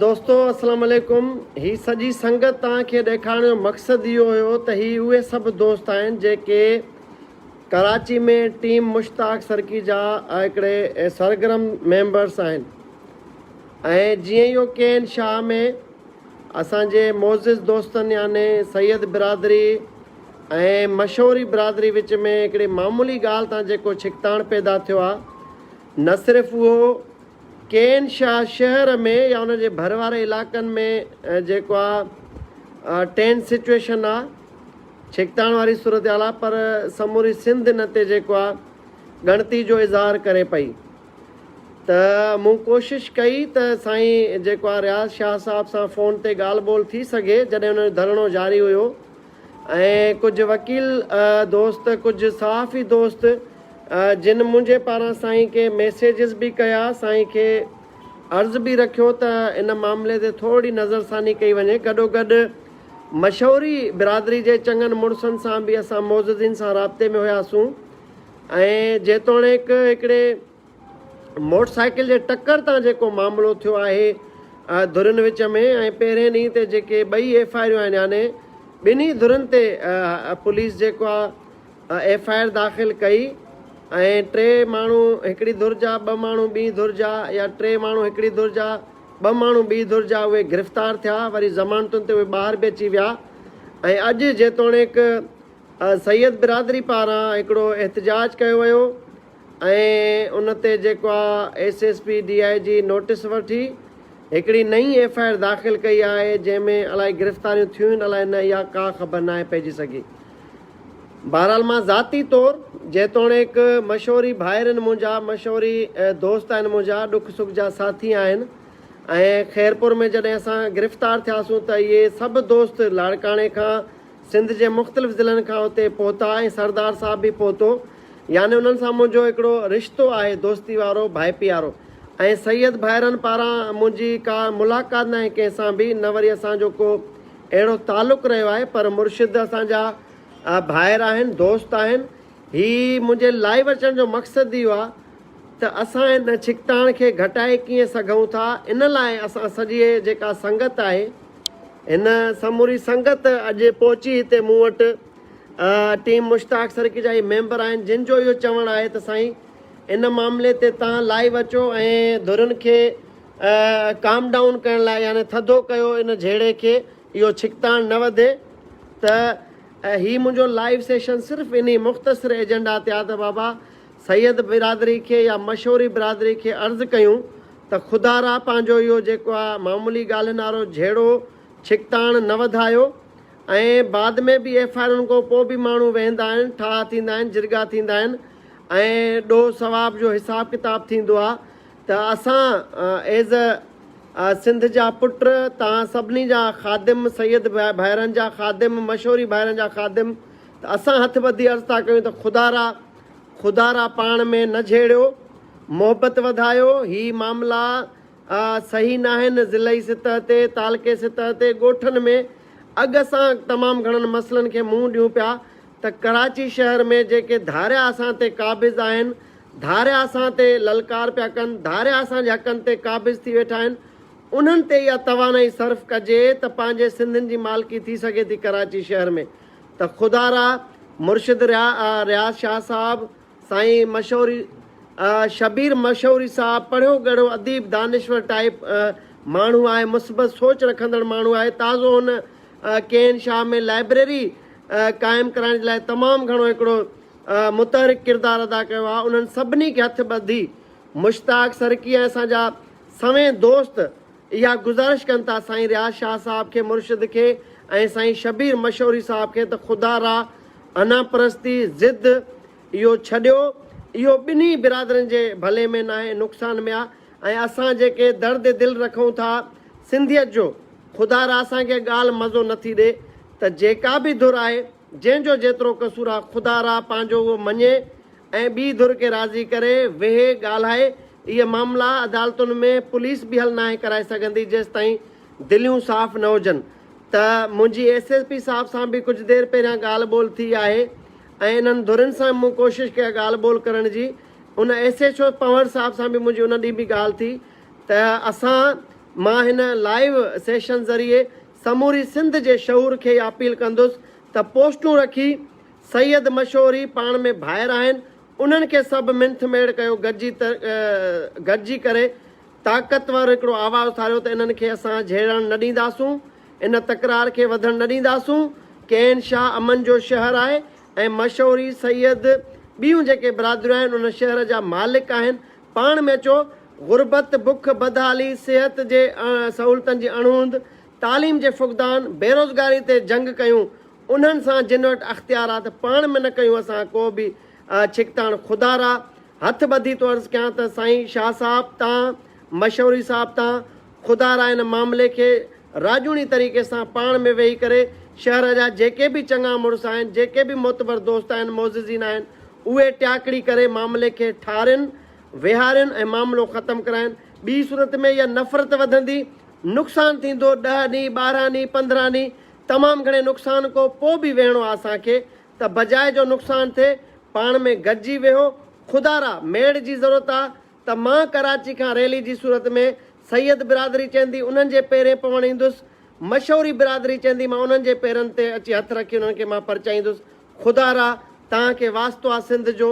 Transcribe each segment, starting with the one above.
دوستو السلام علیکم هي سڄي سنگت توهان کي ڏيکارڻ جو مقصد اهو هيو ته هي اهي سڀ دوست آهن جيڪي ڪراچي ۾ ٽيم مشتاق سرڪي جا هڪڙي سرگرم ميمبرس آهن ۽ جيئن يو ڪي اين شاهه ۾ اسان جي معزز دوستن يعني سيد برادري ۽ مشوري برادري وچ ۾ هڪڙي معمولي ڳالهه تان جيڪو ڇڪتاڻ پيدا ٿيو آهي نه صرف اهو ڪي اين شاهه شهر ۾ يا ان جي ڀر واري علائقن ۾ جيڪو آهي ٽينس سچويشن آهي ڇڪتاڻ واري صورتحال آ پر سموري سنڌ ان تي جيڪو آ ڳڻتي جو اظهار ڪري پئي ته مون ڪوشش ڪئي ته سائين جيڪو آ رياض شاهه صاحب سان فون تي ڳالهه ٻولهه ٿي سگهي جڏهن انهن جو ڌرڻو جاري هيو ۽ ڪجهه وڪيل دوست ڪجهه صحافي دوست جن منهنجي پاران سائين کي ميسيجز به ڪيا سائين کي عرض به رکيو ته ان معاملي تي ٿورڙي نظرثاني ڪئي وڃي گڏوگڏ مشوري برادري جي چڱن مڙسن سان به اسان معززين سان رابطي ۾ هياسون ۽ جيتوڻيڪ هڪڙي موٽر سائيڪل جي ٽڪر تان جيڪو معاملو ٿيو آهي ڌرين وچ ۾ ۽ پهرين ڏينهن تي جيڪي ٻئي ايف آء آريون آهن يعني ٻنهي ڌرين تي پوليس جيڪو آهي ايف آء آر داخل ڪئي ۽ ٽي ماڻهو هڪڙي ڌر جا ٻه ماڻهو ٻي ڌر جا يا ٽي ماڻهو هڪڙي ڌر جا ٻه ماڻهو ٻي ڌر جا اهي گرفتار ٿيا، وري ضمانتن تي اهي ٻاهر به اچي ويا ۽ اڄ جيتوڻيڪ سيد برادري پاران هڪڙو احتجاج ڪيو ويو ۽ ان تي جيڪو آ S S P D I G notice ورٺي هڪڙي نئين ايف آء آر داخل ڪئي آهي جنهن ۾ الائي گرفتاريون ٿيون الاء نه اها ڪا خبر ناهي پئجي سگهي. بهرحال مان ذاتي طور جيتوڻيڪ مشوري ڀائرن منهنجا مشوري دوست آهن منهنجا ڏک سک جا ساٿي آهن ۽ خيرپور ۾ جڏهن اسان گرفتار ٿياسون ته اهي سڀ دوست لاڙڪاڻي کان سنڌ جي مختلف ضلعن کان اتي پهتا ۽ سردار صاحب به پهتو يعني انهن سان منهنجو هڪڙو رشتو آهي دوستي وارو ڀائپيارو ۽ سيد ڀائرن پاران منهنجي ڪا ملاقات ناهي ڪنهن سان به نه وري اسان جو ڪو اهڙو تعلق رهيو آهي پر مرشد اسان جا ڀائر آهن دوست آهن هي منهنجي لائيو اچڻ جو مقصد اهو آهي ته اسان ان ڇڪتاڻ کي گهٽائي ڪيئن سگهون ٿا ان لاء اسان سڄي جيڪا سنگت آهي هن سموري سنگت اڄ پهچي هتي مون وٽ ٽيم مشتاق سرڪي جا هي ميمبر آهن جن جو اهو چوڻ آهي ته سائين ان معاملي تي تان لائيو اچو ۽ ڌرين کي ڪام ڊائون ڪرڻ لاء يعني ٿڌو ڪيو ان جهيڙي کي اهو ڇڪتاڻ نه وڌي ته هي منهنجو لائيو سيشن صرف انهي مختصر ايجنڊا تي آ ته بابا سيد برادري کي يا مشوري برادري کي عرض ڪيون ته خدا را پنهنجو اهو جيڪو آ معمولي ڳالهين وارو جهيڙو ڇڪتاڻ نه وڌايو ۽ بعد ۾ به ايف آئي آرن کان پوء به ماڻهو ويهندا آهن ٺاهه ٿيندا آهن جرڳا ٿيندا آهن ۽ ڏوهه ثواب جو حساب ڪتاب ٿيندو آ ته اسان ايز اي سنڌ جا پٽ توهان سڀني جا خادم، سيد ڀائرن جا خادم، مشوري ڀائرن جا خادم ته اسان هٿ ٻڌي عرض ٿا ڪيون ته خدا را خدا را پاڻ ۾ نه جهيڙيو، محبت وڌايو، هي معاملا صحيح ناهن، ضلعي سطح تي، تعلقي سطح تي، ڳوٺن ۾ اڳ اسان تمام گهڻن مسئلن کي منهن ڏيون پيا ته ڪراچي شهر ۾ جيڪي ڌاريا اسان تي قابض آهن، ڌاريا اسان تي للڪار پيا ڪن، ڌاريا اسان جي حقن تي قابض ٿي ويٺا آهن، انهن تي اها توانائي صرف ڪجي ته پنهنجي سنڌين جي مالڪي ٿي سگهي ٿي ڪراچي شهر ۾ ته خدا را مرشد رياض شاهه صاحب، سائين مشهور شبير مشهوري صاحب پڙهيو ڳڙهو اديب دانشور ٽائيپ ماڻهو آهي مثبت سوچ رکندڙ ماڻهو آهي تازو هن ڪي اين شاهه ۾ لائبريري قائم ڪرائڻ جي لاء تمام گهڻو هڪڙو متحرڪ ڪردار ادا ڪيو آهي انهن سڀني کي هٿ ٻڌي مشتاق سرڪي ۽ اسان جا سوين دوست اها گذارش ڪن ٿا سائين رياض شاهه صاحب کي مرشد کي ۽ سائين شبير مشوري صاحب کي ته خدا را انا پرستي ضد اهو ڇڏيو اهو ٻنهي برادرين جي ڀلي ۾ ناهي نقصان ۾ آهي ۽ اسان جيڪي درد دل رکون ٿا سنڌيت جو خدا را اسان کي ڳالهه مزو نٿي ڏي ته جيڪا به ڌر آهي جنهن جو جيترو قصور آ خدا را پنهنجو اهو مڃي ۽ ٻي ڌر کي راضي ڪري، ويهي، ڳالهائي، اهي معاملا عدالتن ۾ پوليس به حل ناهي ڪرائي سگهندي جيستائين دليون صاف نه هجن ته منهنجي ايس ايس پي صاحب سان به ڪجهه دير پهريان ڳالهه ٻولهه ٿي آهي ۽ انهن ڌرين سان به مون ڪوشش ڪئي آ ڳالهه ٻولهه ڪرڻ جي ان ايس ايڇ او پنهور صاحب سان به منهنجي ان ڏينهن به ڳالهه ٿي ته اسان مان هن لائيو سيشن ذريعي سموري سنڌ جي شعور کي اها اپيل ڪندس ته پوسٽون رکي سيد مشهوري پاڻ ۾ ڀائر آهن انهن کي سڀ منٿ ميڙ ڪيو گڏجي گڏجي ڪري طاقتور هڪڙو آواز اٿاريو ته انهن کي اسان جهيڙڻ نه ڏينداسون ان تڪرار کي وڌڻ نه ڏينداسون ڪين شاهه امن جو شهر آهي ۽ مشهوري سيد ٻيون جيڪي برادريون آهن ان شهر جا مالڪ آهن پاڻ ۾ اچو، غربت، بک، بدحالي، صحت جي سهولتن جي اڻهوند، تعليم جي فقدان، بيروزگاري تي جنگ ڪيون، انهن سان جن وٽ اختيار آ ته پاڻ ۾ نه ڪيون اسان ڪو به ڇڪتاڻ، خدا را هٿ ٻڌي ٿو عرض ڪيان ته سائين شاهه صاحب تان، مشوري صاحب تان خدا را ان معاملي کي راڄوڻي طريقي سان پاڻ ۾ ويهي ڪري شهر جا جيڪي به چڱا مڙس آهن، جيڪي به معتبر دوست آهن، معززين آهن، اهي ٽياڪڙي ڪري معاملي کي ٺارين، ويهارين ۽ معاملو ختم ڪرائين. ٻي صورت ۾ اها نفرت وڌندي، نقصان ٿيندو، ڏهه ڏينهن، ٻارهن ڏينهن، پندرهن ڏينهن، تمام گهڻي نقصان ڪو پوء به ويهڻو آ اسان کي ته بجاء جو نقصان ٿئي، پاڻ ۾ گڏجي ويهو، خدارا! ميڙ جي ضرورت آ، ته مان ڪراچي کان ريلي جي صورت ۾ سيد برادري چيندي انهن جي پيرين پوڻ ايندس، مشوري برادري چيندي مان انهن جي پيرن تي اچي هٿ رکي انهن کي مان پرچائيندس، خدا را توهان کي واسطو آ سنڌ جو،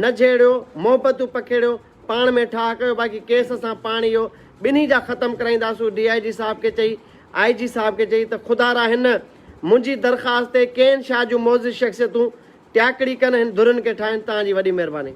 نه جهيڙيو، محبتون پکيڙيو، پاڻ ۾ ٺاهه ڪيو باقي ڪيس اسان پاڻ اهو ٻنهي جا ختم ڪرائينداسون ڊي آء جي صاحب کي چئي آء جي صاحب کي چئي ته خدا را هن منهنجي درخواست تي ڪين شاهه جون معزز شخصيتون ٽياڪڙي ڪن هن ڌرين کي ٺاهين توهان جي وڏي مهرباني.